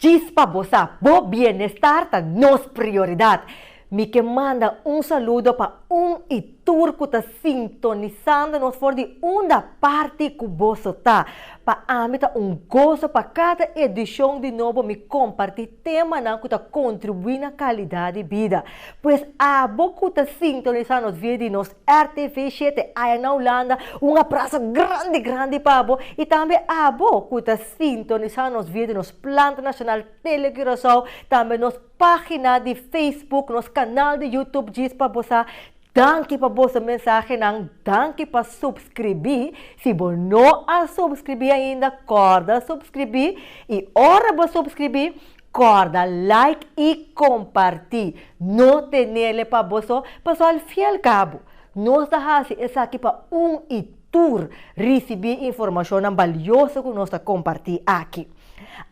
Djis pa bo sa, bo bienestar ta nos prioridad. Mi ke manda un saludo pa un i tur ku ta sintonisando nos for di unda parti ku boso ta. Pa ami ta un goso pa kada edishon di Nobo mi kompartí temanan ku ta kontribuí na kalidat di bida. Pues abo ku ta sintonisá nos via di nos RTV shete aya na Hulanda un abrazo grandi grandi pa bo y tambe abo cu ta sintonisa nos via di nos plant nacional Tele Curacao tambe nos pagina di Facebook nos canal di YouTube djis pa bo sa danki pa boso mensahenan danki pa subscribi si bo no a subscribi ainda corda subscribi y ora bo subscribi Corda like y comparti. No tenele pa boso paso al fin al cabo nos ta haci esaki pa un y tur ricibi informacionnan balioso cu nos ta comparti aki.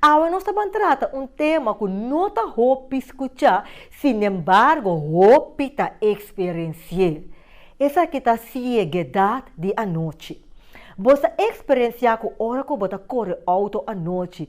Awe nos ta ban trata un tema cu no ta hopi scucha sin embargo hopi ta experienci'e. Esaki ta ciegedad di anochi. Bo sa experiencia cu ora cu bo ta core auto anochi,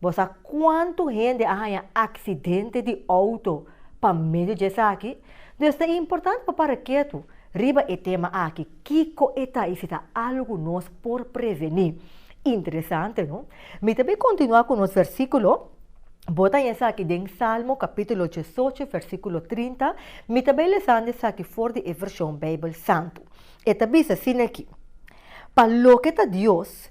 Bo sa kuantu hende a haña aksidente di outo pa medio di esaki? Dus ta importante pa para ketu riba e tema aki, kiko e ta i si ta algu nos por prevení. Interesante, no? Mi ta bin kontinuá ku nos versíkulo. Bo ta haña esaki den Salmo kapítulo diesocho, versíkulo trinta. Mi ta bai lesando esaki for di e vershon Beibel Santu. E ta bisa asin'akí, Pa loke ta Dios,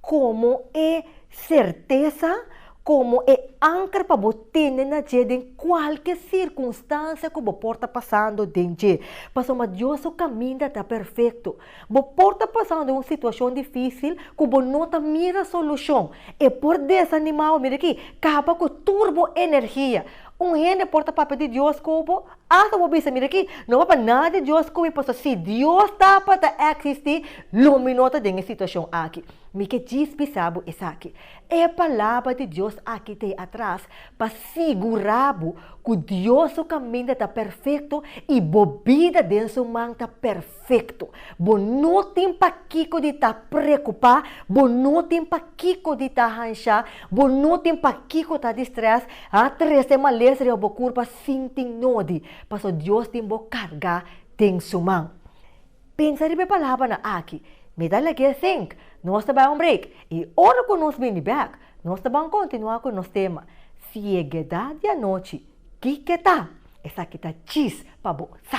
Komo e sertesa, komo e anker pa bo tene na dje den kualke sirkunstansia ku bo por ta pasando den dje. Pasobra Dios su kaminda ta perfekto. Bo por ta pasando un situashon difísil ku bo no ta mira solushon. E por desanimá bo. Mira aki, kaba ku tur bo energia. Un hende por ta papia di Dios ku bo, Asta bo bisa, Mira aki, no bo pa nada Dios koe, pasobra si Dios ta pa ta eksistí, lo mi no ta den e situashon aki. Mi ke djis bisa bo esaki. E Palabra di Dios aki ta e atras pa sigurá bo ku Dios su kaminda ta perfekto i bo bida den su man ta perfekto. Bo no tin pa kiko di ta preokupá, bo no tin pa kiko di ta hanshá, bo no tin pa kiko ta distrès, a trese males riba bo kurpa sin tin nodi, paso Dios tin bo carga den su man. Pensa riba e palabranan aki, Mi ta lek e zinc, nos ta bay un break, y ora cu nos bini bek, nos ta ban continua cu nos tema, Ciegedad di anochi, kike ta? Esaki ta chis pa bo sa!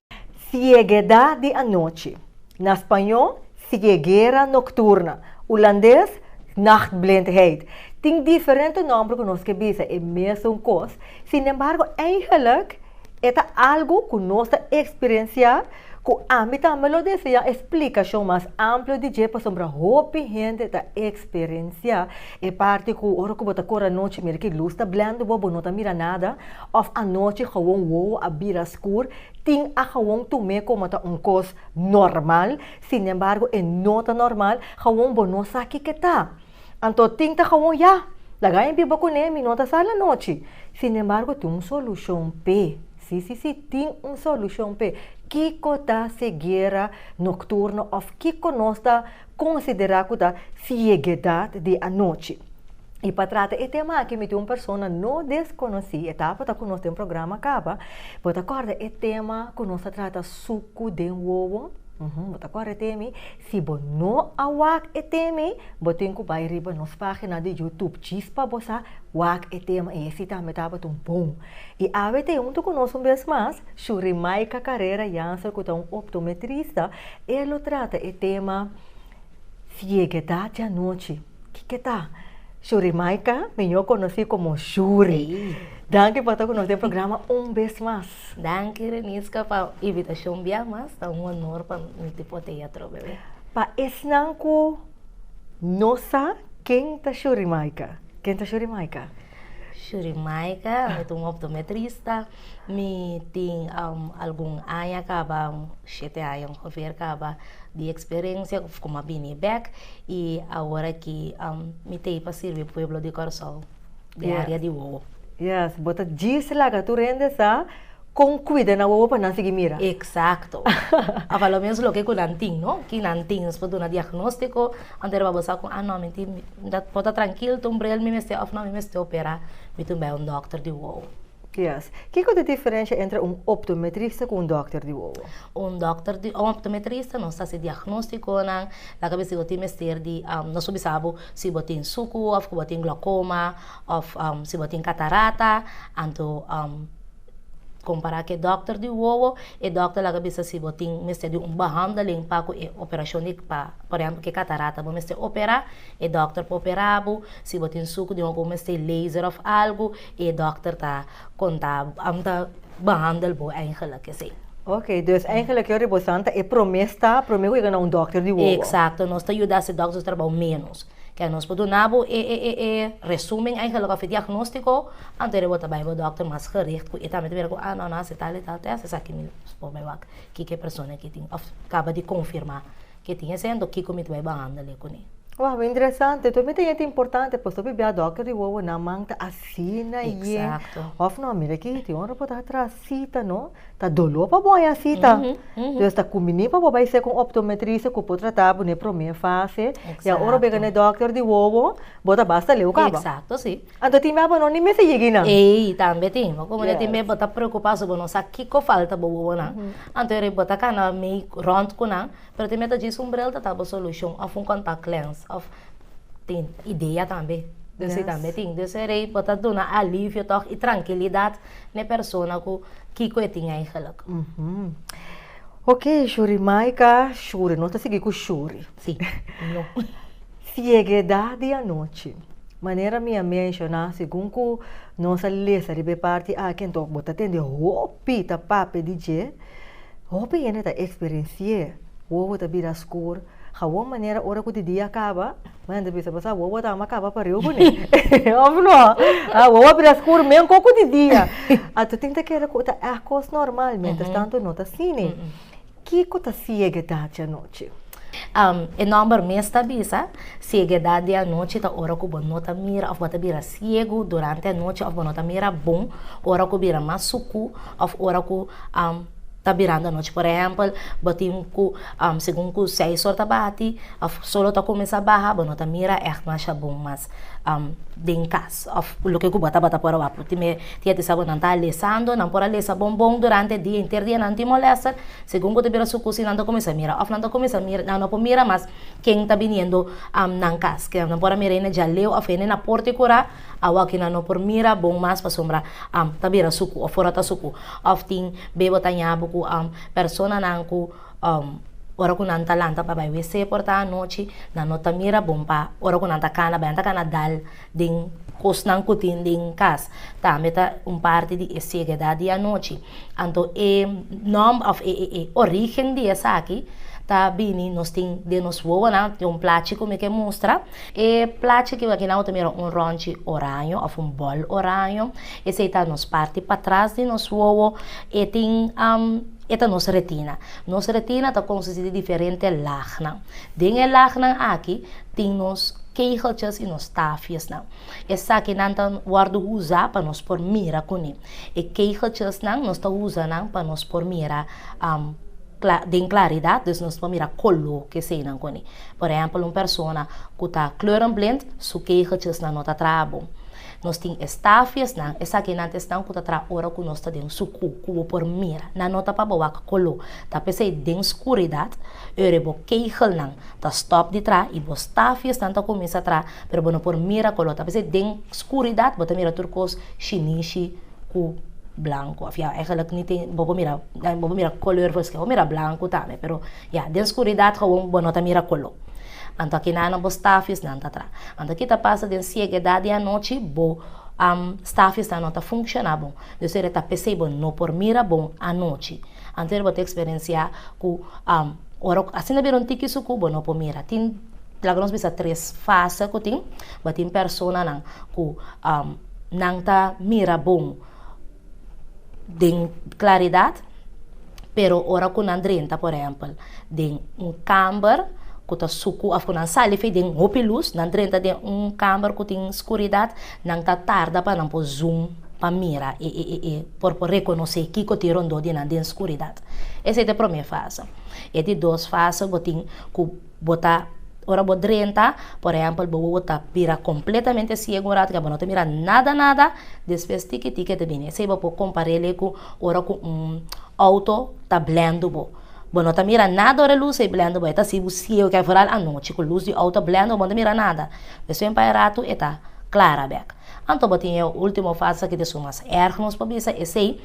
Siegedá di anochi, na spañó, ceguera nocturna, hulandes, nachtblindheid, tin diferente nòmber ku nos ke bisa e mesun kos, sinembargo eihelijk e ta algu ku nos ta eksperensiá ku ami tambe lo deseá e splikashon mas amplo di dje pasobra hopi hende ta eksperensiá e parti ku ora ku bo ta kor anochi mira ku e lus ta blènd bo, bo no ta mira nada. Of anochi gawon wowo a bira skur, tin a gawon tum'é komo ta un kos normal, sinembargo e no ta normal, gawon bo no sa kiko ta. Anto tin ta gawon ya, laga mi biba kuné, mi no ta sal anochi. Sinembargo tin un solushon p'é, sí sí sí, tin un solushon p'é. Kiko ta seguera nokturno of kiko nos ta. considera cu ta ciegedad di anochi. Y pa trata e tema aki mi tin un persona no desconoci, e tabata cu nos den programa caba. Bo ta corda e tema cu nos a trata sucu den wowo? Uhum, bo ta corda e temi? Si bo no a wak e temi, bo tin cu bay riba nos pagina di Youtube djis pa bo sa wak e tema y hesi tambe tabata un bon. Y awe ta junto cu nos un bes mas Shurimaika Carrera Janser cu ta un optometrista. E lo trata e tema Sieguedat di anochi. Kiko ta? Shurimaika, miñó konosí komo Shuri. Danki pa ta ku nos den programa un bes mas. Danki Reniska pa invitashon bia mas. Ta un onor pa mi ti por ta e atrobe awe. Pa esnan ku no sa ken ta Shurimaika, ken ta Shurimaika? Shurimaika, mi ta un optometrista. Mi tin algun aña kaba, shete aña hoveer kaba, di eksperensia ku mi a bini bek. I awor aki mi ta e pa sirbi pueblo di Kòrsou, di area di Wowo. Yes, bo ta djis laga tur hende sa. Con cuida nan wowo pa nan sigui mira? Exacto. A valoa mes loke cu nan tin, no? Ki nan tin? Nos por duna diagnostico, antes riba bo sa cu, ah no, mi tin, bo ta trankil, tin un bril mi mester of no, mi mester opera, mi tin bay un dokter di wowo. Yes. Kico ta e diferencia entre un optometrista cu un dokter di wowo? Un dokter di, un optometrista, nos ta haci diagnosticonan, laga mi si bo tin mester di, nos por bisa bo si bo tin sucu of cu bo tin glaucoma of si bo tin catarata, anto Kompará ku e dòkter di wowo, e dòkter laga bisa si bo tin mester di un behandeling pa ku e operashon di, pa por ehèmpel ku e katarata bo mester operá, e dòkter por operá bo, si bo tin suku di hopi bo mester di laser òf algu i e dòkter ta konta bo, ta behandel bo eigelik esei. Oke, dus eigelik yori bo sa ta e promé stap, promé wega na un dòkter di wowo. Eksakto, nos ta yuda si dòkter ta trabou ménos. Ke nos por duna bo e e e e resumen eigenlijk of e diagnóstiko, anto e bo ta bai bo dòkter mas gericht ku e tambe ta mira ku a no no a hasi tal i tal tèst esaki mi por bai wak kiko e persona ke tin of kaba di konfirmá ke tin esei anto kiko mi ta bai bahandel ekuni. Wao me interesante enton mi ta yente importante pasobra mi bia dòkter di wowonan man ta asina yen of no mira aki tin ora bo ta atras. Sita no, ta doló pa bo haña sita. Entonces ta cumbini pa bo bai ser cu un optometrista cu por trata bo n'e prome fase. Y ahora bo yega n'e dokter di wowo, bo ta basta leu caba. Exacto, sí. Anto tin baba no ni mester yegi nan. Ey, tambe tin. Bo come tin baba bo ta preocupa asun bo no sa kico falta bo wowonan. Anto e riba bo ta cana mi rond cu nan. Pero tin mia ta djis un bril ta tabo solucion of un contact lens of tin idea tambe den esey tambe tin den eserey por ta duna alivio toch y trankilidad na e persona cu kico e tin eigenlijk. Ok shuri Maica shuri nos ta sigui cu shuri si no ciegedad di anochi manera mi a menciona segun cu nos a lesa riba e parti aki enton bo ta tende hopi ta papia di dje. Hopi hende ta eksperensié wowo ta bira skur, hawon manera ora ku di dia a kaba, nan ta bisa pasá wowo ta ama kaba pariu kuné, òf no? A wowo a bira skur men koko di dia. Anto tin ta keda ku ta èkos normal, miéntras tantu no ta asina. Kiko ta siege dantsa anochi? E nòmber mes ta bisa, Sieguedat di anochi ta ora ku bo no ta mira òf bo ta bira siegu durante anochi òf bo no ta mira bon ora ku bira mas suku òf ora ku ta birando anochi. Por ehèmpel, bo tin ku segun ku seis òr ta bati òf solo ta kuminsá baha bo no ta mira ègt masha bon mas den kas. Òf loke ku bo a tabata por a wak. Tin e tia di sa ku nan ta a lesando, nan por a lesa bon bon durante e dia henter dia nan tin molèster. Segun bo ta bira su kusi nan ta kuminsá mira òf nan ta kuminsá mira, nan no por mira mas ken ta biniendo nan kas. Ke nan por a mira hende djaleu òf hende na por te kurá. Awoki nan no por mira bon mas pasobra ta bira suku òf ora ta suku. Òf tin be bo ta ña bo ku personanan ku ora ku nan ta lanta pa bai wc por ta anochi nan no ta mira bon pa ora ku nan ta kana bai nan ta kana dal. den kosnan ku tin den kas, tambe ta un parti di e siegedat di anochi. Anto e nòmber òf e e orígen di esaki ta bini, nos tin den nos wowonan, tin un plachi ku mi ke mustra, e plachi kiba kinan bo ta mira un rònchi oraño òf un bòl oraño, esei ta nos parti patras di nos wowo, e tin e ta nos retina. Nos retina ta konstustí di diferente lagnan. Den e lagnan aki tin nos kegeltjes i nos tafiesnan. Esakinan ta wòrdu usa pa nos por mira kuné. E kegeltjesnan nos ta usa nan pa nos por mira den klaridat, dus nos por mira koló keseinan kuné. Por ehèmpel un persona ku ta kleurenblind su kegeltjesnan no ta traha bon. Nos tin e stafiesnan, esaki nan ta esnan ku ta traha ora ku nos ta den sukú, ku bo por mira. Nan no ta pa bo wak koló, ta p'esei den skuridat, ora e bo kegelnan ta stòp di traha i bo stafiesnan ta kuminsá traha, pero bo no por mira koló, ta p'esei den skuridat bo ta mira tur kos shinishi ku blanku. Òf ya, ègèlèk ni te bo por mira, bo por mira kolèr, bo por mira blanku tambe, pero. Ya, den skuridat gawon bo no ta mira koló. Anto a kina na bo stafisnan ta tra. Anto ki ta pasa den siegedat di anochi, bo am stafisnan no ta funshoná bon. Deus ora e ta p'esei bo no por mira bon anochi. Anto ora bo ta eksperensiá ku am ora ku asina bira un tiki suku bo no por mira. Tin laga nos bisa tres fase ku tin. Bo tin personanan ku am nan ta mira bon. den claridad, pero ora cu nan drenta, por ehempel, den un camber cu ta sucu of cu nan sali fey den hopi luz, nan drenta den un camber cu tin scuridad, nan ta tarda pa nan por zoom pa mira e e e por por reconoce kico tin rondó di nan den scuridad. Esey ta e prome fase. E di dos fase bo tin cu. Bo ta, ora bo drenta, por ehèmpel, bo wowo ta bira kompletamente siegu un ratu, ke bo no ta mira nada nada, despues tiki tiki e ta bini. Esei bo por kompar'é ku ora ku un outo ta blendu bo. Bo no ta mira nada ora e lus ei blendu bo, e ta si bo siegu, ke foral anochi ku lus di outo a blendu bo, bo no ta mira nada. Despues un pai ratu e ta klara bèk. Anto bo tin e ultimo fase ki ta su mas èrg nos por bisa, esei,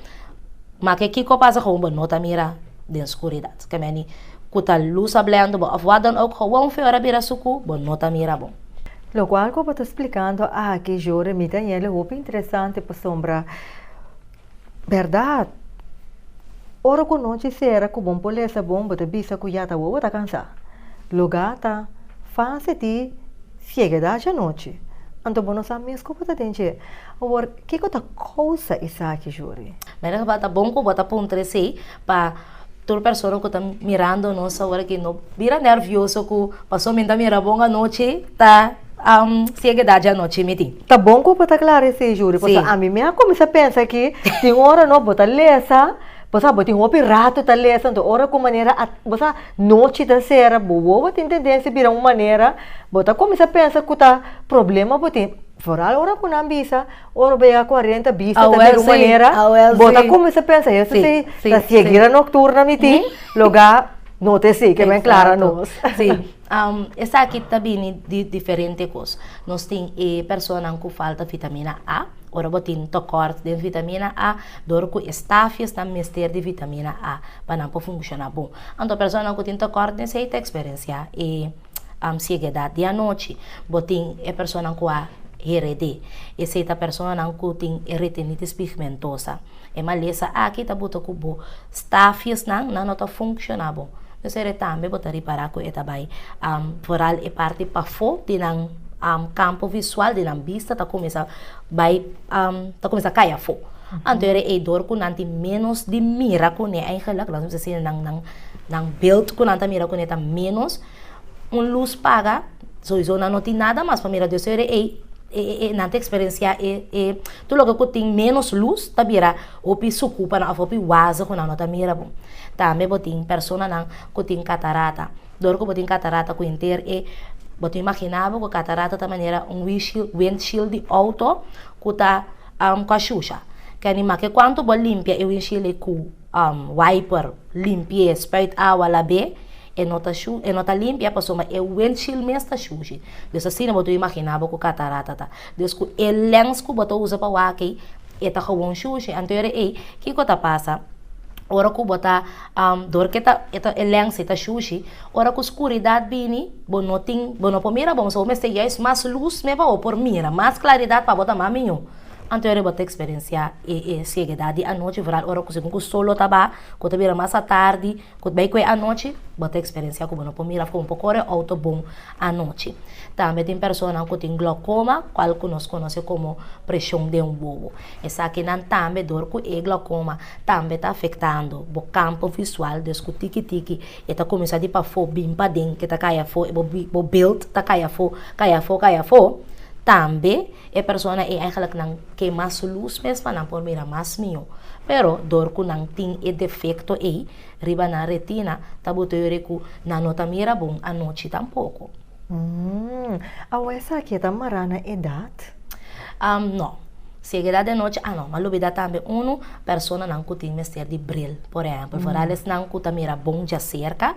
ma ke kiko pasa ku bo no ta mira den skuridat? Ke meni. Cu ta luz hablando bo of wha dan ook gewoon feo era bira su cu bo no ta mira bo. Lo cual cu bo ta splicando aki yo remit aña el e hopi interesante pasobra berdad ora cu nochi cera cu bon por lesa bon bo ta bisa cu ya ta wowo ta cansa loga ta fase di ciegedad dje nochi anto bo no sa mes cu bo ta den dje awor kico ta causa esaki yori. Mira ta bon cu bo ta puntra esey. pa tur persona ku ta mirando nos awor aki no bira nervioso ku paso mi ta mira bon anochi ta siege daña anochi mi tin. Ta bon ku bo ta klara esei Judy paso ami mi a kuminsá pensa ki tin ora no bo ta lesa paso abo tin hopi ratu ta lesa nto ora ku manera bo sa nochi ta sera bo wowo tin tendensia bira un manera bo ta kuminsá pensa ku ta problema bo tin foral ora ku nan bisa. Ora bo yega cuarenta bista ta mira un manera bo ta cuminsa pensa esta si ta sigue gira nocturna mi tin loga no ta esey kiba e clara nos. Si esaki ta bini di diferente cos nos tin e personanan cu falta vitamina A ora bo tin tocort den vitamina A dor cu e stafies nan mester di vitamina A pa nan por funciona bon anto personanan cu tin tocort de esey ta experencia e. am siegedat di anochi, bo tin e personanan ku a hered'é. Esei ta personanan ku tin e retinitis pigmentosa. E malesa aki ta buta ku bo stafjesnan nan no ta funshoná bon. Mesere tambe bo ta ripará ku e ta bai am foral e parti pafó di nan am kampo visual, di nan bista ta kuminsá bai am ta kuminsá kai afó. Anto e dor ku nan tin ménos di mira kuné aigelik nan ta bisa si nan nan. Nan beeld ku nan ta mira kune ta menos. Un lus paga, soisou nan no tin nada mas pa mira Dios. Su ere ei nan ta eksperensiá e tur loke ku tin menos lus ta bira hopi suku pa nan òf hopi waze ku nan no ta mira bo. Tambe bo tin personanan ku tin katarata. Dor ku bo tin katarata ku henter e bo ta imaginá bo ku katarata ta manera un wishil windshield di outo ku ta kòshusha. Kèn i make kuantu bo limpia e windshield ei ku wiper limpi'é e spuit awa lab'é e no ta shu e no ta limpia pasobra e windshield mes ta shushi des asina bo ta imagina bo ku catarata ta des ku e lens ku bo ta usa pa waki e ta gewoon shushi anto ora ei kiko ta pasa ora ku bo ta dor ke ta e ta e lens e ta shushi ora ku skuridad bini bo no tin bo no por mira bon so bo mester yais mas luz me pa bo por mira mas klaridat pa bo ta mas miño. Anteori bo ta eksperensiá e e siegedat di anochi, vooral ora ku segun ku solo ta ba, ku ta bira mas atardi, ku ta bai kue anochi, bo ta eksperensiá ku bo no por mira afó, bo no por kore outo bon anochi. Tambe tin personanan ku tin glokoma, kual ku nos konosé komo preshon den un bobo. Esakinan tambe dor ku e glokoma tambe ta afektando bo kampo visual, des ku tiki tiki e ta kuminsá di pafó bin paden, ke ta kai afó, bo bilt ta kai afó, kai afó, kai afó, tambe E persona ei eigenlijk nan ke mas lus mes pa nan por mira mas miho. Pero dor ku nan tin e defekto ei riba nan retina ta boto yore ku nan no ta mira bon anochi tampoko. Umm. Awo esaki e ta mará na edat? Am no. Si ega edat di anochi a no. M'a lubidá tambe unu, personanan ku tin mester di bril, por ehèmpel, foral esnan ku ta mira bon djaserka.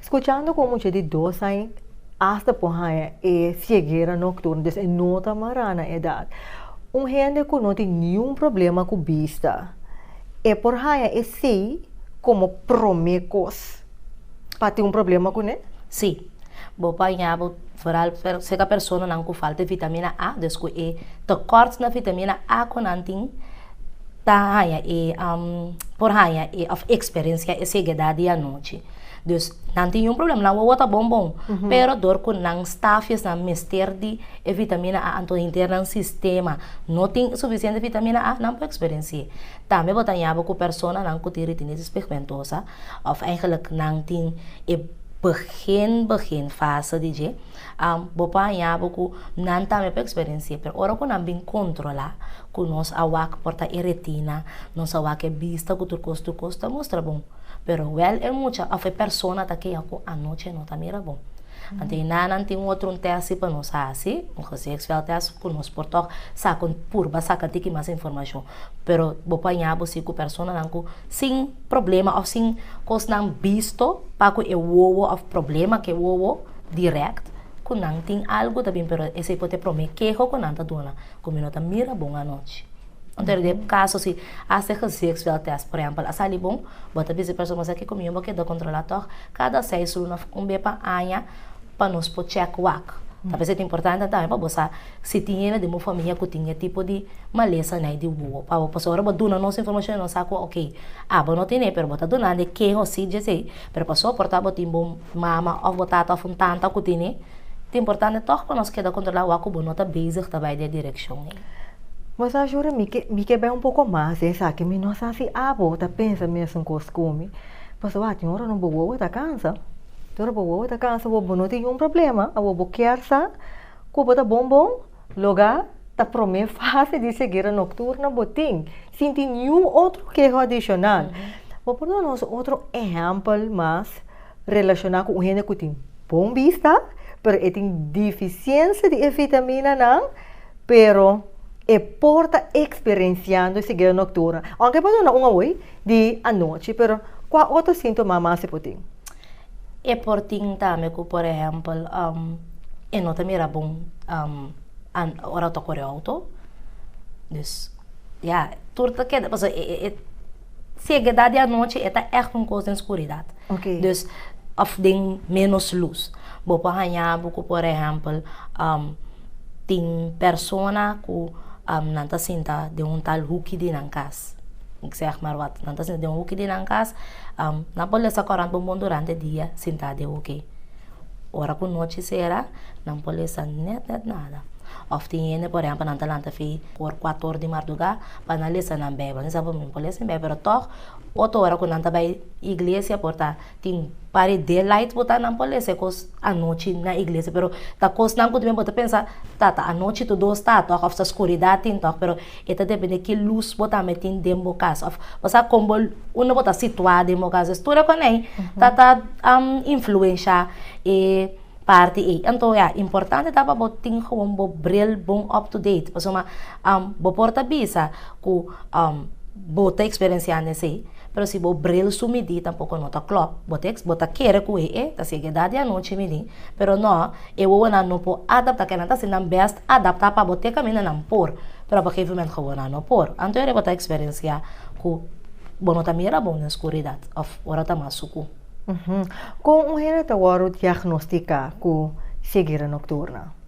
Scuchando cu un mucha di dos aña asta por haña e ciegera nocturna, dus e no ta mara na edad. Un hende cu no tin niun problema cu bista, e por haña esey como prome cos pa tin un problema cu ne? Sí. Bo por haña bo, vooral cerca personanan cu falta vitamina A, dus cu e tekort na vitamina A cu nan tin, ta haña e por haña e of experencia e ceguedad di anochi. Dus nan tin un problema, nan wowo ta bon bon, pero dor cu nan staf esnan mester di e vitamina A anto henter nan sistema no tin suficiente vitamina A, nan por experenci'e. Tambe bo ta yaba cu personanan cu tin retinitis pigmentosa of eigenlijk nan tin e begin begin fase di dje. Bo por hañabo cu nan tambe por experienci'e, pero ora cu nan bin controla cu nos a wak por ta e retina, nos a wak e bista cu tur cos, tur cos ta mustra bon, pero wel e mucha of e persona ta kega cu anochi e no ta mira bon. Anto e nannan tin otro un testi pa nos haci, un gezichtsveld test, cu nos por toch sa con purba saca tiki mas informacion, pero bo por hañabo si cu personanan cu sin problema of sin cosnan bisto, pa cu e wowo of problema cu e wowo. direct cu nan tin algo ta bin pero esey por t'e prome keho cu nan ta duna cu mi no ta mira bon anochi. Enton den e caso si hasta e gezichsveld test por ehempel a sali bon bo ta bizi persona esaki cu mi no bo keda controla toch cada seis luna of un be pa aña pa nos por check wak ta vez ta importante tambe pa bo sa si tin yende den bo famia cu tin e tipo di malesa ney di wuwo pa bo pasobra bo duna nos informacion y nos sa cu oke abo no tin'e pero bo ta dunandi e keho si dje esey pero pa soporta bo tin bo Mama of bo tata of un tanta ku tin e. Ta importante tog pa nos keda kontrolá wak ku bo no ta bezig ta bai den e direkshon ei. Bo sa shuri mi ke mi ke bai un poko mas di esaki mi no sa si abo ta pensa mesun kos ku mi pasobra wak tin ora no bo wowo ta kansa tin ora bo wowo ta kansa bo bo no tin un problema abo bo kier sa ku bo ta bon bon. Loga ta prome fase di seguera nokturno bo tin, sin tin niun otro keho adishonal. Bo por duna nos otro ehèmpel mas relashoná ku un hende ku tin bon bista, pero e tin difisiensia di e vitaminanan, pero e por ta eksperensiando seguera nokturno? Aunke e por duna un awor di anochi, pero kua otro síntoma mas e por tin? E por tin tambe ku por ehèmpel e no ta mira bon ora ta kore outo. Dus ya tur ta keda pasobra e segedat di anochi e ta ègt un kos den skuridat. Dus òf den ménos lus. Bo por haña bo ku por ehèmpel tin persona ku nan ta sinta den un tal huki di nan kas. Bo zeg maar wat, nan ta sinta den hoekje di nan kas, nan por lesa korant bon bon durante dia sinta den hoekje. Ora ku nochi sera nan por lesa net net nada. Òf tin hende por ehèmpel nan ta lanta fi for kuato or di mardugá pa nan lesa nan beibel. Nan sa bo mi no por lesa mi beibel pero tòg otro ora ku nan ta bai iglesia por ta Tin pare daylight bo ta nan por lese kos anochi na iglesia pero ta kosnan ku también bo ta pensa ta ta anochi tu dos ta tòg òf ta skuridat tin tòg pero e ta depende ki lus bo ta mete den bo kas òf bo sa kon bo unda bo ta situá den bo kas es tur e konei ta ta influensha e parti ei anto ya importante ta pa bo tin gewoon bo bril bon up to date pasobra bo por ta bisa ku bo ta experienciando esei. Pero si bo bril su midí tampoko no ta klòp. Bo ta bo ta kere ku e e ta sigue edad di anochi midí, pero no, e wowonan no por adaptá. Kèn nan ta sin nan bèst adaptá pa bo te kaminda nan por, pero pa gegeven moment gewonan no por. Anto ere bo ta eksperensiá ku bo no ta mira bon den skuridat òf ora ta mas suku. Kon un hende ta wòrdu diagnostiká ku seguera nokturna?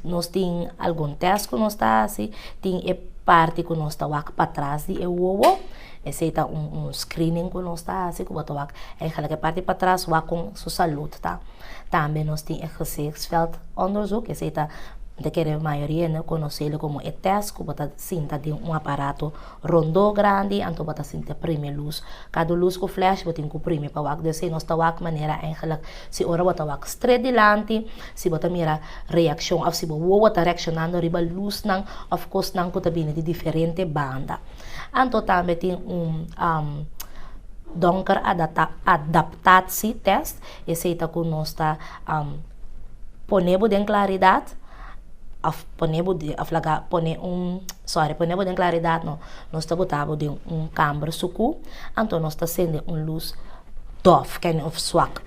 nos tin algun tèst ku nos ta hasi, tin e parti ku nos ta wak pa tras di e wowo, esei ta un un screening ku nos ta hasi ku bo ta wak eigenlik e parti pa tras wak kon su salud ta. Tambe nos tin e gezichtsveldonderzoek, esei ta, bo ta kere mayoria hende konoselo komo e tèst ku bo ta sinta den un aparato Rondó grandi anto bo ta sinti e primi lus. Kadu lus ku flash bo tin ku primi pa wak dor esei nos ta wak manera engelak si ora bo ta wak stret dilanti si bo ta mira reakshon òf si bo wowo ta reakshonando riba lusnan òf kosnan ku ta bini di diferente banda. Anto tambe tin un donker adata adaptatsi tèst esei ta ku nos ta pone bo den klaridat. a pone bo den, a flaga pone un, sorry, pone bo den klaridat no, nos ta bota bo den un kamber suku, anto nos ta sende un lus dòf, kende òf swak,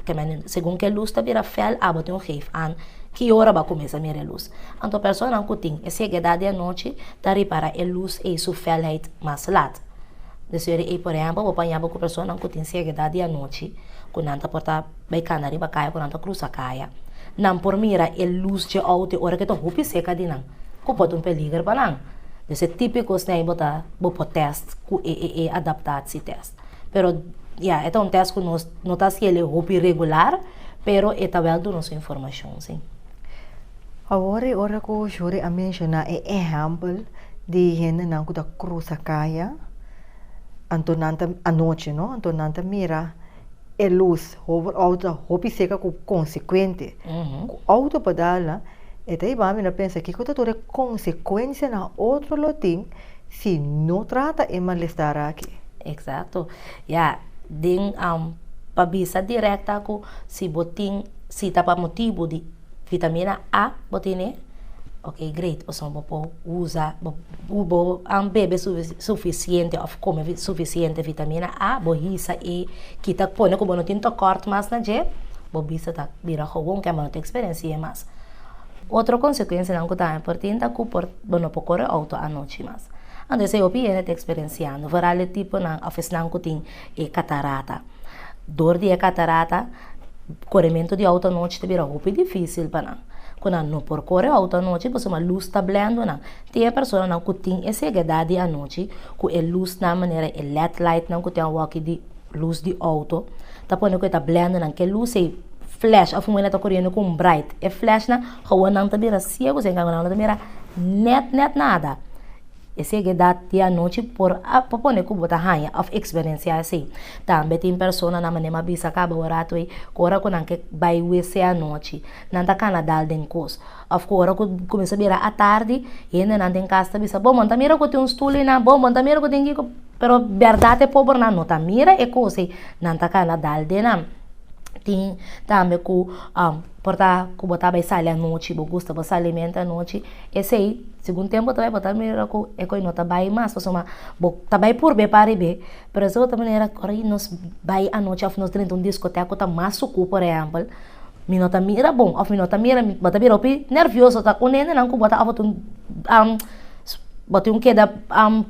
segun k'e lus ta bira fèl, abo tin un geef an ki ora b'a kuminsá mira e lus. Anto personanan ku tin e segedat di anochi ta ripará e lus ei su fèlheid mas lat. Desori ei, por ehèmpel, bo por haña bo ku personanan ku tin segedat di anochi, ku nan ta por ta Bay cana riba caya cu nan ta crusa caya. Nan por mira e luz dje auto ora cu e ta hopi seca di nan, cu por ta un peliger pa nan. Pues e tipicos n'ey bo ta bo por test cu e e e adaptatie test. Pero ya e ta un test cu nos no ta haci ele hopi regular, pero e ta wel duna su informacion si. Awor e ora cu Shuri a menciona e ehempel di hendenan cu ta crusa caya, anto nan ta, anochi no, anto nan ta mira. E lus, hopi auto ta hopi seka ku konsekuente. Ku auto padal nan, e ta iba mi na pensa kiko ta tur e konsekuensianan otro lo tin si no trata e malestar aki. Eksakto. Ya, den, pa bisa dirèkt aku si bo tin sita pa motibu di. Vitamina A bo tene, ok great oson bo por uza bo an bebe sufisiente of come sufisiente vitamina A bo hisa e kita pone ku bo no tin tokòrt mas na dje bo bisa ta bira gowon ke bo no ta eksperensie mas. Otro konsekuensianan ku tambe por tin ta ku por bo no por kore outo anochi mas. Anto esei hopi hende ta eksperensiando, vooral e tipo nan of esnan ku tin e katarata. Dor di e katarata, korementu di outa anochi ta bira hopi difísil pa nan. Ku nan no por kore outa anochi pasobra lus ta blendu nan. Tin e personanan ku tin e segedat di anochi, ku e lusnan manera e led lightnan ku tin awòkI di lus di outo, ta pone ku e ta blendu nan. Ke lus ei, flash, afún wen a ta koredu ku un bright. E flashnan, awor nan ta bira siegu si, en kambio nan no ta mira nèt nèt nada. E segedat di anochi por a pone ku bo ta haña òf eksperensiá esei. Tambe tin persona na manera mi a bisa kaba ora tu ei, ku ora ku nan ke bai wc anochi, nan ta kana dal den kos. Òf ku ora ku kuminsha bira atardi, hendenan den kas ta bisa, Bo mon ta mira ku tin un stul einan, bo mon ta mira ku tin kiko. Pero bèrdat e pobernan no ta mira e kos ei, nan ta kana dal den nan. Tin tambe ku por ta ku bo ta bai sali anochi, bo gusta bo salimente anochi. Esei segun tempo ta bai bo ta mira ku e koi no ta bai mas pasobra ma bo ta bai por be pa rib'e pero esei bo ta manera ku ora nos bai anochi òf nos drenta un diskotèk ku ta mas suku por ehèmpel mi no ta mira bo òf mi no ta mira mi bo ta bira hopi nervioso ta un hendenan ku bo ta òf bo tin keda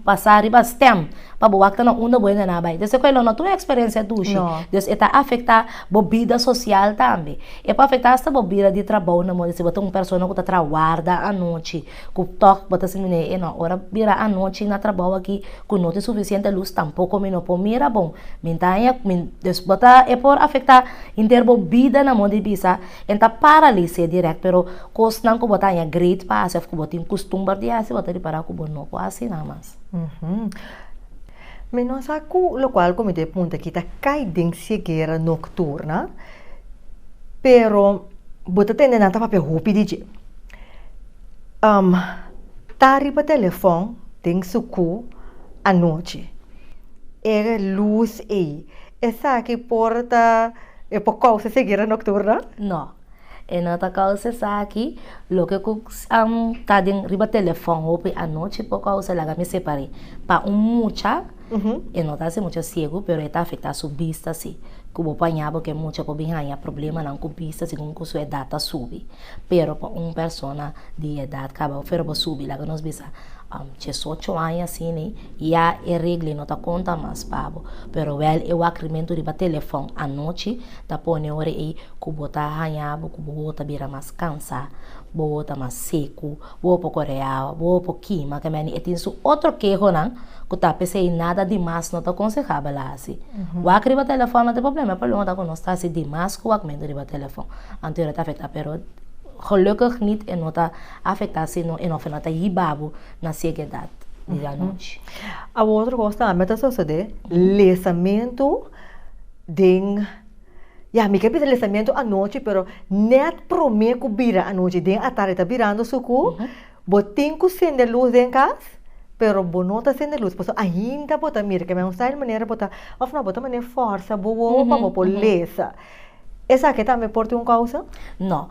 pasa riba stèm pa bo wak ta na unda bo hendena bai entonces e koi lo no a tudu eksperensia dushi entonces e ta afektá. Bo bida sosial tambe. E por afektá asta bo bida di trabou na moda si bo ta un persona ku ta traha warda anochi, ku tòg bo ta sinti mi ne'e nò ora bira anochi na trabou aki ku no tin sufisiente lus tampoko mi no por mira bon. Mi ta haña bo ta e por afektá henter bo bida na moda di bisa e ta paralis'é dirèkt pero kosnan ku bo ta haña great pa hasi òf ku bo tin kustumber di hasi bo ta ripará ku bo no por hasi nan mas. Mi no sa cu locual cu mi debe punta aki ta cay den ceguera nocturna, pero bo ta tende nan ta papia hopi di dje. Um, ta riba telefon den su cu anochi. E luz ey, esaki por ta, e por causa ceguera nocturna? No. E no ta causa esaki loke cu ta den riba telefon hopi anochi por causa laga mi separ'e pa un mucha e no ta asi mucha ciego pero e ta afecta su bista si cu bo por aña bo que mucha por bin haya problemanan cu bista segun cu su edad ta subi pero pa un persona di edad cabal pero bo subi laga nos bisa diesocho aña asina ya e regla e no ta conta mas pa bo pero wel e wak rimento riba telefon anochi ta pone ora ei ku bo ta haña bo ku bobo ta bira mas kansá, bobo ta mas seku, bobo poko reaba, bobo por kima ke meni. E tin su otro kehonan ku ta p'esei nada di mas no ta konsehable hasi. Wak riba telefòn no ta e problema, e problema ta ku nos ta hasi di mas ku wakmentu riba telefòn. Anto ora ta afektá pero gelukkig nit e no ta afektá sino e no f'e no ta yiba bo na siege edat di anochi. Awo otro kos tambe ta sosodé, lesamentu. Den, ya, mi ke bisa lesamento anochi, pero net prome ku bira anochi den atarde ta birando su ku bo tin ku sende lus den kas, pero bo no ta sende lus, pasobra ainda bo ta mira. Ke men sta el manera bo ta, òf no, bo ta manera fòrsa bo wowo pa bo por lesa. Esaki tambe por tin un kousa? No.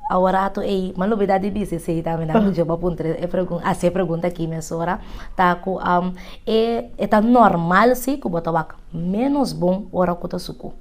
Aworato ei, mi a lubida di bisa esei tambe, nan djo bo a puntra e pregunta, hasi e pregunta aki mesora, ta ku e ta normal si ku bo ta wak Ménos bon ora ku ta sukú.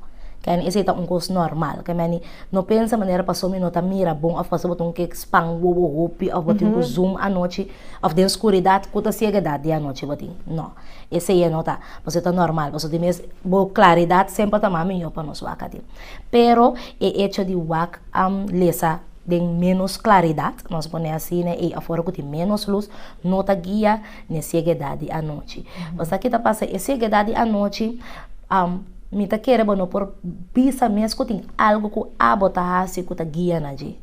Kemi esei ta un kos normal. Kemi a no pensa manera pasobra mi no ta mira bon òf pasobra bo ta un kek span wowo hopi òf bo tin ku zoom anochi òf den skuridat ku ta siega edat di anochi bo tin. No. Esei e no ta. Pasobra e ta normal. Pasobra di mes bo klaridat semper ta mas mihó pa nos wak aden. Pero e echo di wak am lesa den ménos klaridat, nos a pon'é asina, ei afora ku tin ménos lus, no ta guia. n'e sieguedad di anochi. Pasobra ki ta pasa? E sieguedad di anochi, mi ta kere bo no por bisa mes ku tin algu ku abo ta hasi ku ta guia na dje.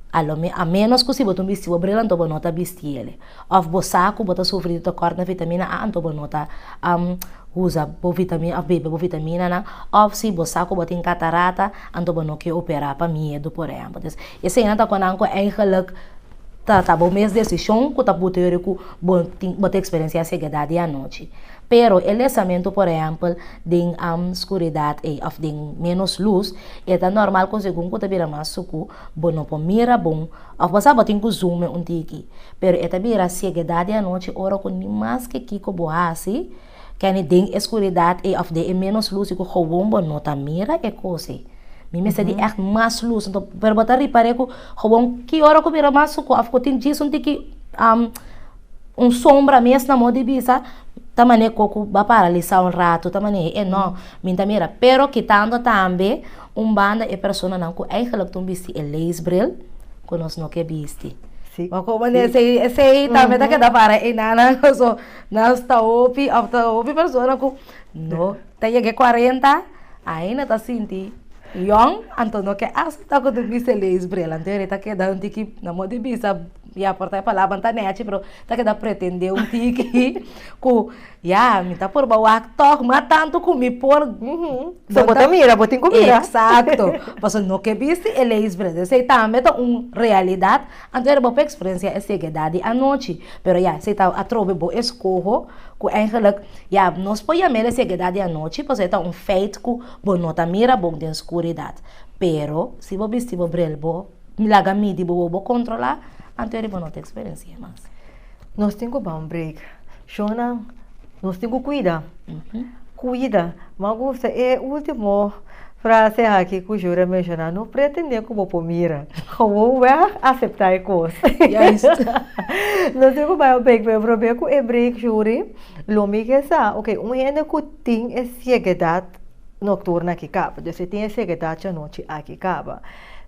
A lo me, a ménos ku si bo ta un bistibu bril anto bo no ta bisti el. Òf bo sa ku bo ta sufri di tokòrt na vitamina A anto bo no ta usa bo vitamina òf bebe bo vitaminanan. Òf si bo sa ku bo tin katarata anto bo no ke operá pa miedu, por ehèmpel. Entonces, eseinan ta konan ku eigelik. Ta ta bo mes desishon ku ta puti yori ku bo tin bo ta eksperensiá segedat di anochi. Pero e lesamentu, por ehèmpel, den skuridat ei òf den ménos lus, e ta normal ku segun ku ta bira mas suku bo no por mira bon òf bo sa bo tin ku zùme un tiki. Pero e ta bira segedat di anochi ora ku ni maske kiko bo hasi, Kenny, Den e skuridat ei òf den e ménos lus ei ku gowon bo no ta mira e kos ei. Mi mester di ègt mas lus. Anto, pero bo ta ripar'é ku gowon ki ora ku mira mas suku òf ku tin djis un tiki un sombra mes na mó di bisa, ta manera kò ku ba paralisá un ratu, ta manera e nò mi ta mira. Pero kitando tambe un banda e personanan ku eigenlik ta un bisti e leesbril ku nos no ke bisti. Bo komo esei tambe ta keda para e nannan. Nos ta hopi of ta hopi persona ku no ta yega e kuarenta ainda ta sinti yòn anto no ke aseptá ku tur bisti e leis p'e lanti e ta keda un tiki na moda e bisa ya por ta e palabra no ta nèchi pero ta keda pretendé un tiki ku ya mi ta por ba wak tòg ma tantu ku mi por So bo ta mira bo tin ku mira. Eksakto pasobra no ke bisti e leis p'e lanti esei tambe ta un realidad. Anto era bo experencia e sequedad di anochi, pero ya si ta atrobe bo escoho cu eigenlijk ya nos por yamel e sequedad di anochi pasobra e ta un feit cu bo no ta mira bon den scuridad. Pero si bo bisti bo bril bo laga midi bo wou bo controla anto era bo no ta experencia mas. Nos tin cu ban break. Shonnan, nos tin ku kuida, kuida. Bo a gusta e ultimo frase aki ku Juri a menshoná, no pretendé ku bo por mira. Gewoon wèg aseptá e kos. Nos tin ku bai a breik, pero probé ku e breik, Juri, lo mi ke sa, oke, un hende ku tin e siegedat nokturna aki kaba, des e tin e siegedat djanochi aki kaba,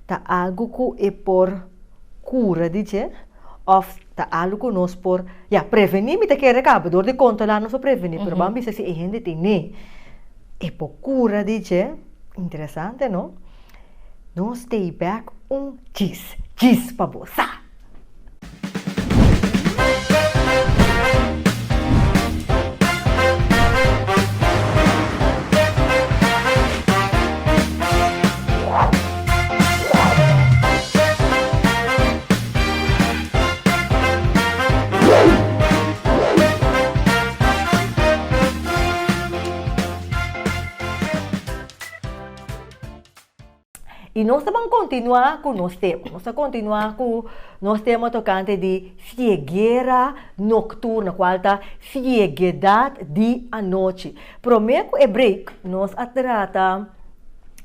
ta algu ku e por kura di dje? Of ta algo ku nos por, ya, prevení mi ta kere kaba, dor di kontrolá nos por prevení, pero bo a bisa si e hende tin ne e por kura di dje? Interesante no? Nos stay back un djis, djis pa bo sa! Y nos ta ban continua cu nos tema, nos ta continua cu nos tema tocante di cieguera nocturna, cual ta cieguedad di anochi. Promé ku e break nos a trata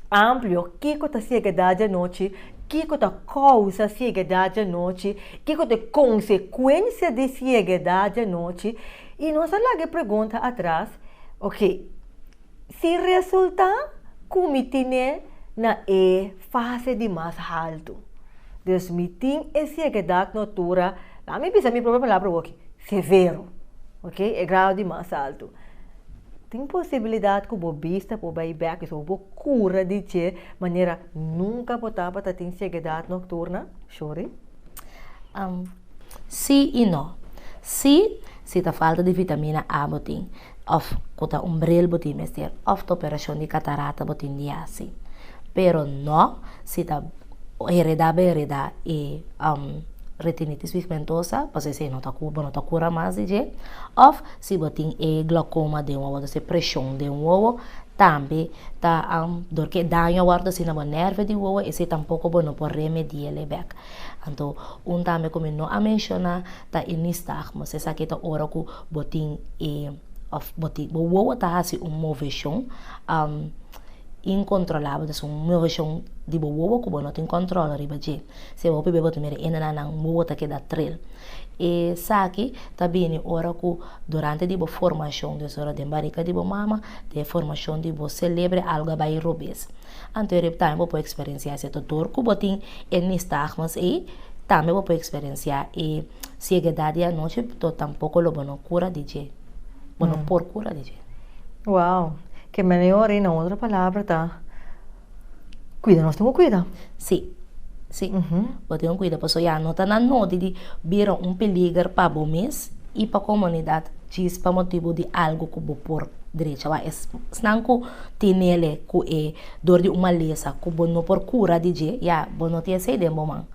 amplio kiko ta siegedat di anochi, kiko ta kousa siegedat di anochi, kiko ta e konsekuensia di siegedat di anochi i nos a laga e pregunta atras, ok, si resultá ku mi tin'é na e fase di mas haltu, dus mi tin e siegedat ku atura, lami bisa mi propio palabra oki, severo, ok, e grado di mas altu. Tin posibilidad cu bo bista por bay bek, y so bo cura di dje manera nunca bo tabata tin ceguedad nocturna? Shuri. Um, sí y no. Sí, si ta falta di vitamina A bo tin, of cu ta un bril bo tin mester, of ta operacion di catarata bo tin di haci. Pero no, si ta hereda bo hereda e um retinitis pigmentosa, pasobra esey no ta cu, bo no ta cura mas di dje, of. Si bo tin e glaucoma den wowo, entonces presion den wowo tambe ta dor ke daño a wòrdu asina bo nèrve di wowo esei tampoko bo no por remedi'el bèk. Anto un tambe ku mi no a menshoná ta e nistagmus, esaki ta ora ku bo tin e òf bo tin bo wowo ta hasi un moveshon inkontrolabel, entonces un moveshon di bo wowo ku bo no tin kòntròl riba dje. Si e hopi beba tu mira e nana nan mubo ta keda tril. Esaki ta bini ora ku durante di bo formashon, des ora den barika di bo mama, den e formashon di bo selebre algu a bai robes. Anto e tambe bo por eksperensiá si e dodor ku bo tin e nistagmas ei, tambe bo por eksperensiá e siegedat di anochi, to tampoko lo bo no kura di dje. Bo no por kura di dje. Wow! Ke menió ori, na otro palabra ta. Cuida nos tin cu cuida. Sí, sí, uhmm, bo tin cu cuida pasobra ya no ta na nodi di bira un peliger pa bo mes y pa comunidad djis pa motibo di algo cu bo por drecha wak. Esnan cu tinele cu e dor di un malesa cu bo no por cura di dje, ya bo no tin esey den bo man.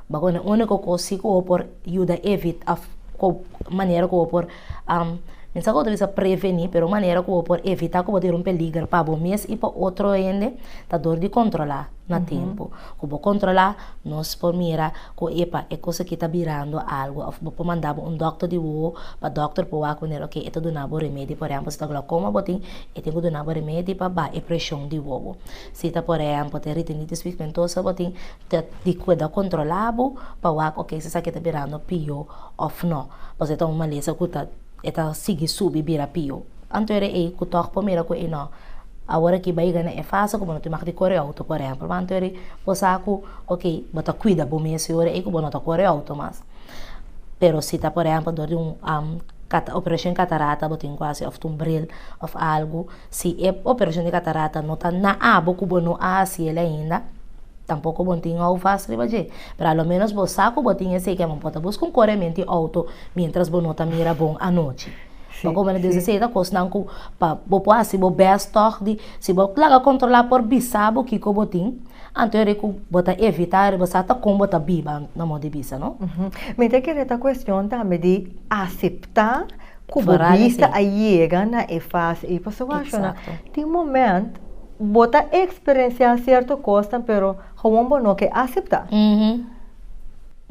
Bo con e unico cos si cu bo por yuda evita, cu manera cu bo por. Um, mi sa ku bo ta bisa prevení, pero un manera ku bo por evitá ku bo ta e un peliger pa bo mes i pa otro hende ta dor di kontrolá na tempu. Ku bo kontrolá, nos por mira ku epa, e kos akí ta birando algu. Òf bo por manda bo un dòkter di wowo pa dòkter por wak ku nel, oke, e ta duna bo remedi. Por ehèmpel, si ta glokoma bo tin, e tin ku duna bo remedi pa baha e preshon di wowo. Si ta por ehèmpel ta e retinitis pigmentosa bo tin, ta di kuidá kontrolá bo pa wak, oke, si esaki ta birando pió. òf nò, pasobra e ta un malesa ku ta e ta sigui subi bira piu. Anto era ei ku tòg por mira ku ei nò. Awor aki bai gana e fasa ku bo no tin maka di kore outo ku areha. Pur anto ei bo sa ku ok bo ta kuida bo mes e ora ei ku bo no ta kore outo mas. Pero si ta por ehempel dor di un operacion katarata bo tin ku hasi òf ta un bril òf algu. Si e operacion di catarata no ta na abo cu bo no a haci el ainda, tampoco bo tin houvast riba dje. Pero a lo menos bo sa cu bo tin esey ke bo por ta busca un coreamento di auto mientras bo no ta mira bon anochi. Ta como nan dios esey ta cosnan cu pa bo por haci bo best tog di, si bo laga controla por bisa bo kico bo tin, anto yari cu bo ta evita yari bo sa ta con bo ta biba na mo di bisa no. Mi ta kere ta cuestion tambe di acepta. ku bo bista a yega na e fase ei. Pasobra bo a shona, tin moment bo ta eksperensiá sierto kosnan pero gewoon bo no ke aseptá.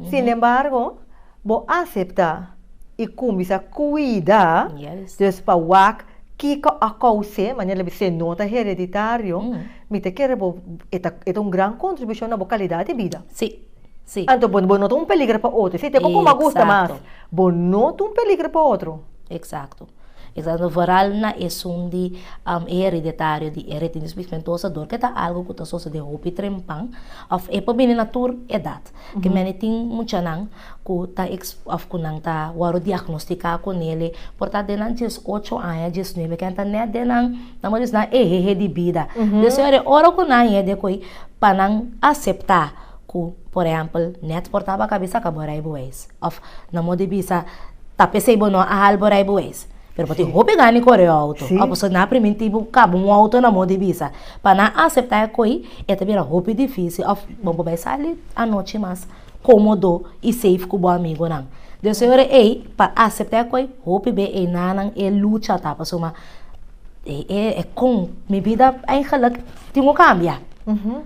Sinembargo, bo aseptá i kuminsá kuida, dus pa wak kiko a kous'é, manera bo se no ta hereditario, mi ta kere bo e ta un gran kontribushon na bo kalidat di bida. Sí. Anto bo, bo no ta un peligro pa otro. Si te koko ma gusta mas, Exacto. bo no ta un peligro pa otro. Exacto. Exacto. Vooral na esun di am e hereditario di e retinitis pigmentosa dor ke ta algo ku ta sosode hopi trempan òf e por bini na tur edat. Ke mene tin muchanan ku ta eks òf ku nan ta wòru diagnostiká ku nele por ta den nan dies ocho aña, dies nuebe ke nan ta nèt den nan nan por a bisti nan ehehe di bida. Desea ora ku nan yende ko'i pa nan aseptá. ku por ehèmpel nèt por ta baka bisa ka bo rei bo wees òf no mo di bisa ta p'esei bo no a hal bo rei bo wees pero bo tin hopi gana di kore outo òf boso na primintí bo kaba un outo na mo di bisa pa nan a aseptá e koi e ta bira hopi difísil òf bo por bai sali anochi mas kómodo i safe ku bo amigonan den su ora ei pa aseptá e koi hopi be ei nanan e lucha ta pasobra. e kon mi bida eigenlijk tin ku kambia.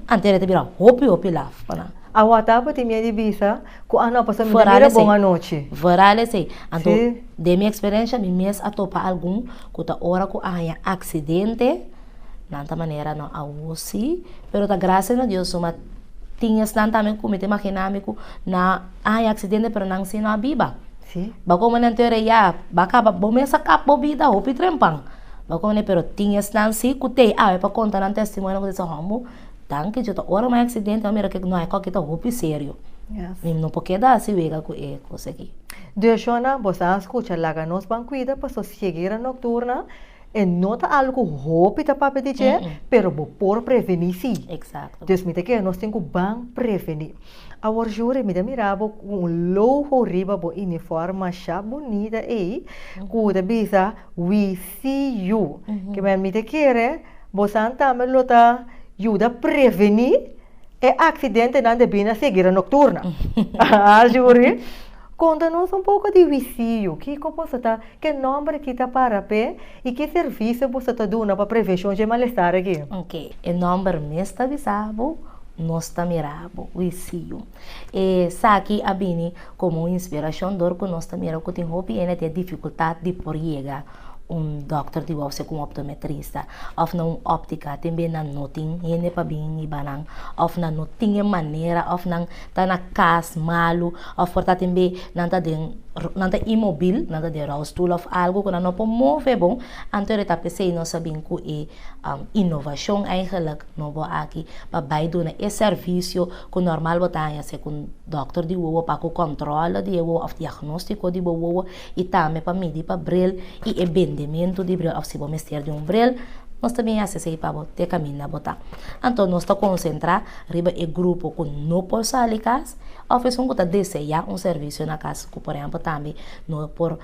Antes a ta bira hopi hopi laf pa nan. A wata awe tin mei di bisa ku a no a paso mira mira bon anochi. Veral esei. Anto den mi eksperensia mi mes a topa algun ku ta ora ku a haña aksidente nan ta manera no awo si pero ta grasia na Dios suma tin esnan tambe ku mi ta imaginá mi ku nan a haña aksidente pero nan si no a biba. Sí. Ba come nan teoria ya ba caba bo mes a cap bo vida hopi trempan ba come nan pero tin esnan si cu tey awe pa conta nan testimonio cu dice hombo danki yo ta ora un accidente a mira que no hay coki ta hopi serio yes mi no por keda asi wega cu e cosa aki. Dioshona bo sa a scucha laga nos ban cuida paso cieguera nocturna E no ta algo cu hopi ta papia di dje, pero bo por preveni si. Exacto. Dus mi ta kere nos tin cu ban preveni. Awor Jury, mi ta mira bo cu un logo riba bo uniform masha bunita ey, cu ta bisa We See You. Kibae mi ta kere bo san tambe lo ta yuda preveni e accidentenan den bina seguira nocturna. Aah Jury? Konta nos un poko di wisiu, kiko boso ta ke nòmber aki ta para p'e i ki servisio boso ta duna pa preveshon dje malestar aki? Ok, e nòmber mes ta bisa bo nos ta mira bo wisiu. Esaki a bini komo un inspirashon dor ku nos ta mira ku tin hopi hende ta difikultat di por yega. un dokter di wou ser ku un optometrista òf na un òptika te mei nan no tin hende pa bin hiba nan òf nan no tin e manera òf nan ta na kas malu òf por ta tin mei nan ta den nan ta imobil nan ta den rolstoel òf algu ku nan no por move bo anto e ta pesei nos a bin ku e inovashon aigelik no bo aki pa bai duna e sèrbisio ku nòrmal bo ta haña ser ku un dokter di wowo pa haku kòntròle di e wowo òf diagnostiko di bo wowo. y tambe pa midi pa bril y e bendementu di bril of si bo mester di un bril nos ta bin haci esey pa bo te caminda bo ta. Anto nos ta concentra riba e grupo cu no por sali cas of esun cu ta desea un servicio na cas cu por ehemplo tambe no por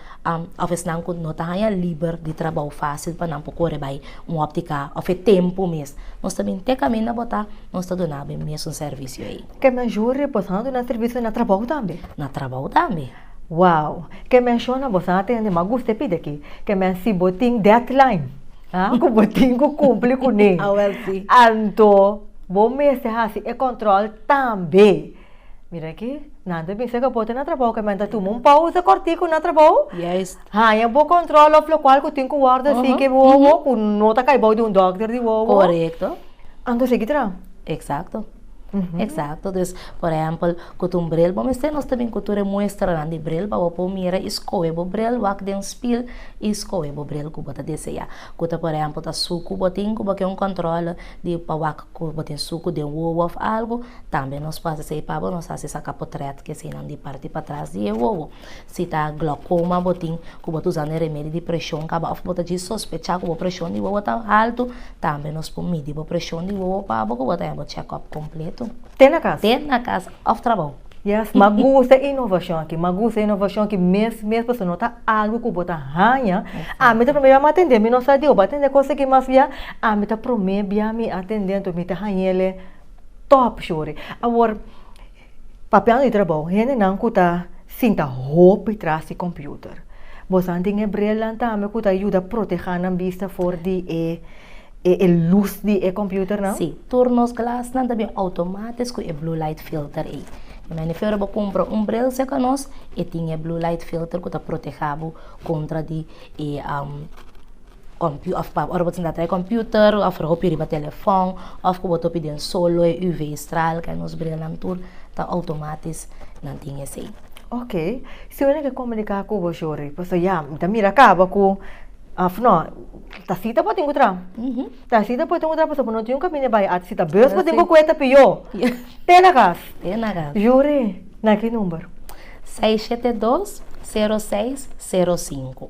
of esnan cu no ta haya liber di trabao facil pa nan por core bay un optica of e tempo mes nos ta bin te caminda bo ta nos ta duna bo e mesun servicio ey. Te mayor bo ta duna servicio na trabao tambe? Na trabao tambe. Wow! Ke menshona boso a tende mas guste pidi aki, ke men si bo tin deadline, a, ku bo tin ku kumpli kuné, anto bo mester hasi e kòntròl tambe. Mira aki, nan ta bisa kapote na trabou, ke men ta tuma un pousa kòrtiku na trabou, haña bo kòntròl òf lokual ku tin ku wòrdu hasi ke wowo ku no ta kai bou di un dòkter di wowo, anto sigui traha. Exacto, dus por ehempel cu tu un bril bo mester nos ta bin cu tur e muestranan di bril pa bo por mira y scoge bo bril, wak den spil y scoge bo bril cu bo ta desea. Cu ta por ehempel ta sucu bo tin cu bo ken un controle di pa wak cu bo tin sucu den wowo of algo tambe nos por haci esey pa bo, nos haci saca potret di eseynan di parti patras di e wowo. Si ta glaucoma bo tin cu bo ta uza ne remedio di presion caba of bo ta djis sospecha cu bo presion di wowo ta alto, tambe nos por midi bo presion di wowo pa bo cu bo ta haña bo check-up completo. Te na cas. Te na cas of trabao. Yes, ma gusta e innovacion aki, ma gusta e innovacion aki mes mes pasobra no ta algo cu bo ta haña. Ami ta prome bia mi a tende, mi no sa di oba tende cos aki mas bia ami ta prome bia mi a tende, entonces mi ta haña ele top shori. Awor. Papian di trabou, hendenan ku ta sinta hopi tras di kompiuter. Bosan tin e brillan tambe ku ta yuda protehá nan bista for di e e lus di e kompiuternan? Sí. Tur nos glasnan ta bin outomátis ku e blue light filter ei. Mi mane fe ora bo kumpra un bril seka nos e tin e blue light filter ku ta protehá bo kontra di e. Compu of pa ora bo tinta trae computer of ora bo hopi riba telefon of ku bo ta hopi den sol lo e UV stral kai nos brilanan tur ta outomatis nan tin esei. Ok, si bo na ke komunika ku bo shori pasobra ya mi ta mira kaba ku of no ta sita bo tin ku traha, ta sita bo tin ku traha pasobra bo no tin un kaminda bai at si ta bos bo tin ku kue ta piyo te na kas, yuri na ki number. Seis shete dos, sero seis, sero sinku.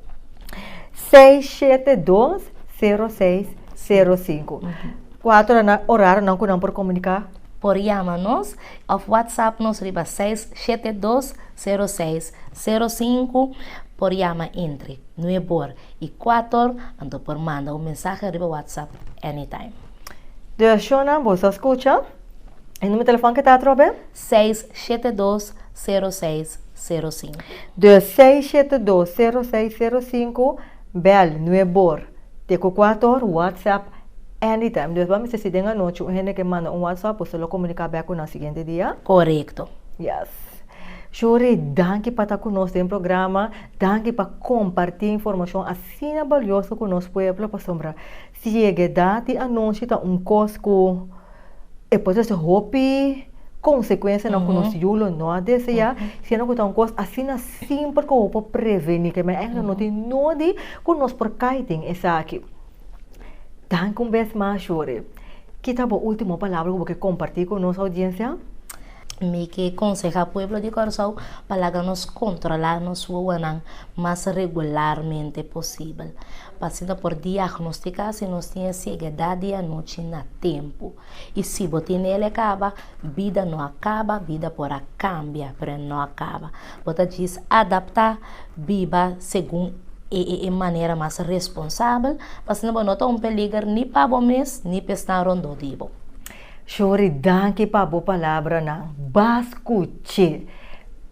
Seis shete dos, sero seis, sero sinku. Ku ato nan na oraro nan ku nan por komuniká? Por yama nos òf whatsapp nos riba seis shete dos, sero seis, sero sinku. Por yama entre nuebe or i kuater anto por manda un mensahe riba whatsapp anytime. Durashonnan boso a skucha e numer telefòn ku ta atrobe? Seis shete dos sero seis sero sinku. Dus seis shete dos sero seis sero sinku bèl nue bor te ku kuatu or whatsapp anytime dus bo mester si den anochi un hende ke manda un whatsapp bo ta lo komuniká bèk ku nan siguiente dia. Korekto. Yes shuri danki pa ta ku nos den programa danki pa kompartí informashon asina balioso ku nos pueblo pasobra si yega edat di anochi ta un kos ku. e por trese hopi consecuencianan cu nos yu lo no a desea, siendo cu ta un cos asina simpel cu bo por preveni, cu men ain no tin nodi cu nos por cay den esaki. Danki un bes mas, Shore. Kita bo ultimo palabra cu bo kier comparti cu nos audiencia? Mi ke konsehá pueblo di Kòrsou pa laga nos kontrolá nos wowonan mas regularmente posibel, pa asina por diagnostiká si nos tin e segedat di anochi na tempu. I si bo tin el, e kaba? Bida no a kaba, bida por a kambia, pero el no a kaba. Bo ta djis adaptá biba segun e e manera mas responsabel, pa asina bo no ta un peliger ni pa bo mes ni pa esnan rondó di bo. Shori danki pa bo palabranan. Bas kuché.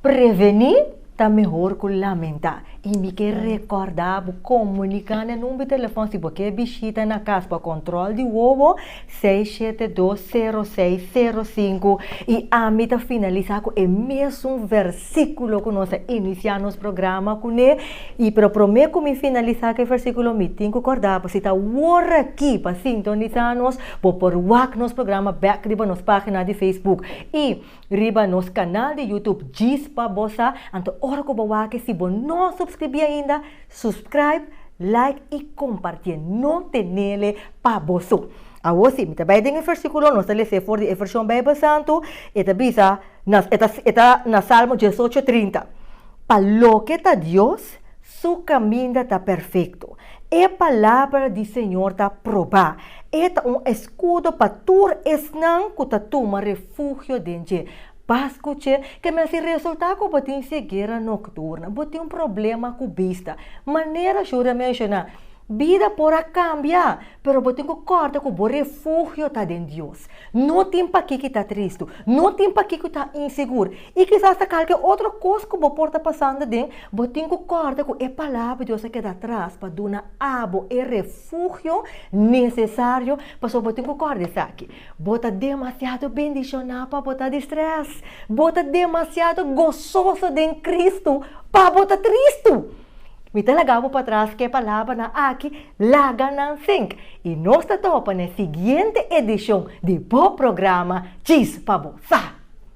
Prevení ta mehor ku lamentá. I mi ke rekòrda bo komuniká na e number telefòn si bo ke bishita na kas pa kòntròl di wowo, seis shete dos sero seis sero sinku. I ami ta finalisá ku e mesun versíkulo ku nos a inisiá nos programa kuné. I pero promé ku mi finalisá ku e versíkulo mi tin ku kòrda bo si ta wor aki pa sintonisá nos. Bo por wak nos programa bek riba nos pagina di Facebook i riba nos kanal di YouTube djis pa bo sa. Anto ora ku bo wak e si bo no supskribi ainda, supscribe, like i kompartié. No tenele pa bo so. Awor si, mi ta bai den e versíkulo, nos ta lesé for di e vershon Beibel Santu, e ta bisa, e ta na Salmo diesocho trinta, Pa loke ta Dios, Su kaminda ta perfekto. E palabra di Señor ta probá. E ta un eskudo pa tur esnan ku ta tuma refugio den dje. Pas ku dje, ke mester resultá ku bo tin segera nokturna, bo tin un problema ku bista. Manera Shuri a menshoná, bida por a kambia, pero bo tin ku kòrda ku bo refugio ta den Dios. No tin pakiko i ta tristu. No tin pakiko i ta insegur. I kisas ta kalke otro kos ku bo por ta pasando den, bo tin ku kòrda ku e Palabra di Dios a keda atras pa duna abo e refugio nesesario. Pasobra bo tin ku kòrda esaki, Bo ta demasiado bendishoná pa bo ta di strès. Bo ta demasiado gososo den Kristu pa bo ta tristu. Mi ta laga bo patras ku e palabranan aki laga nan sink. I nos ta topa na e siguiente edishon di bo programa Djis pa bo Sa!